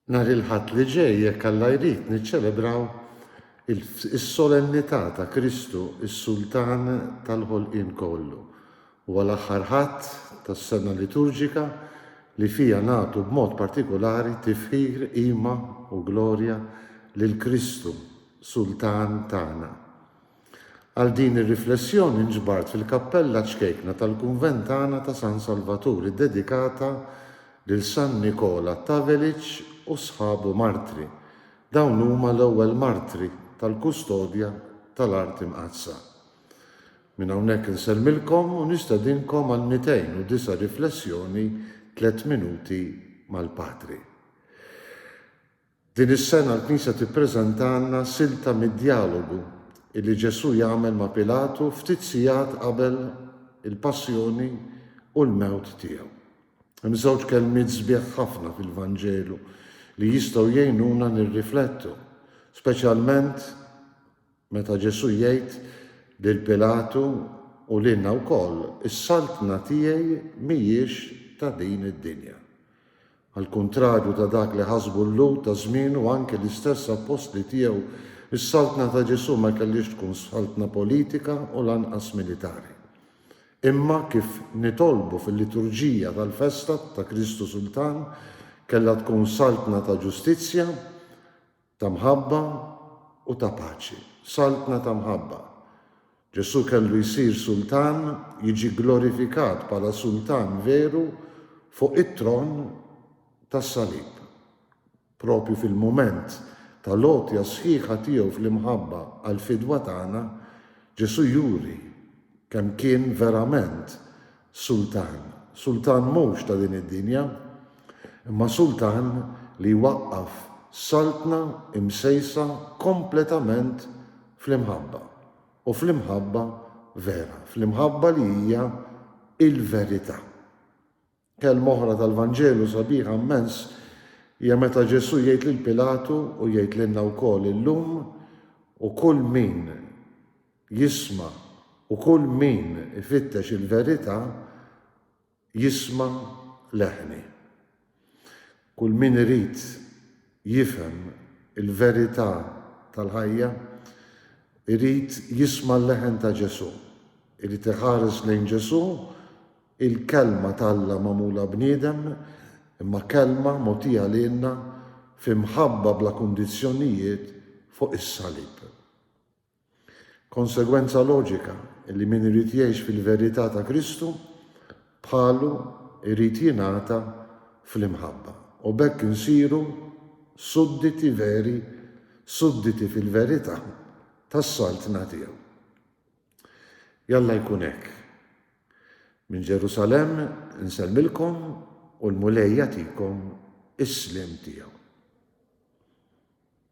Nhar il-Ħadd li ġej, jekk Alla jrid, niċċelebraw is-Solennità ta' Kristu, is-Sultan tal-ħolqien kollu. Huwa l-aħħar Ħadd tas-sena liturġika li fiha nagħtu b'mod partikulari tifħir, qima u glorja lil Kristu, Sultan tagħna. Għal din ir-riflessjoni nġbart fil-kappella ċkejkna tal-kunvent tagħna ta' San Salvatur iddedikata lil San Nikola t'Aveliċ u sħabu martri. Dawn huma l-ewwel martri tal-kustodja tal-Art Imqaddsa. Minn hawnhekk insellmilkom u nistedinkom għal 209 riflessjoni tliet minuti mal-Patri. Din is-sena l-Knisja tippreżentalna silta mid-djalogu li Ġesù jagħmel ma' Pilatu ftit sigħat qabel il-passjoni u l-mewt tiegħu. Hemm żewġ kelmiet sbieħ ħafna fil-Vanġelu li jistgħu jgħinuna nirriflettu, speċjalment Meta Ġesù jgħid lil Pilatu u lilna wkoll, Is-saltna tiegħi mhijiex ta' din id-dinja. Għall-kuntrarju ta' dak li ħasbu l-Lhud ta' żmienu u anki l-istess appostli tiegħu, is-saltna ta' Ġesù ma kellhiex tkun saltna politika u lanqas militari. Imma kif nitolbu fil-liturġija tal-festa ta' Kristu Sultan, kellha tkun saltna ta' ġustizzja, Ta' mħabba u ta' paċi. Saltna ta' mħabba. Ġesù kellu jsir Sultan, jiġi gglorifikat bħala Sultan veru fuq it-tron tas-salib. Proprju fil-mument tal-għotja sħiħa tiegħu fl-imħabba għall-fidwa tagħna, Ġesù juri kemm kien verament Sultan. Sultan mhux ta' din id-dinja, imma sultan li jwaqqaf saltna imsejsa kompletament fl-imħabba, u fl-imħabba vera, fl-imħabba li hija l-verità. Kelma oħra tal-Vanġelu sabiħa mmens hija meta Ġesù jgħid lil Pilatu u jgħid lilna wkoll illum, U kull min jisma' u kull min ifittex il-verità jisma' leħni. Kull min irid jifhem il-verità tal-ħajja irid jisma' l-leħen ta' Ġesù, irid iħares lejn Ġesù, il-Kelma t'Alla magħmula bniedem, imma Kelma mogħtija lilna f'imħabba bla kundizzjonijiet fuq is-salib. Konsegwenza loġika li min irid jgħix fil-verità ta' Kristu, bħalu jrid jingħata fl-imħabba, u b'hekk insiru sudditi veri, sudditi fil-verità tas-Saltna tiegħu. Jalla jkun hekk. Minn Ġerusalemm insellmilkom u l-Mulej jagħtikom is-sliem tiegħu.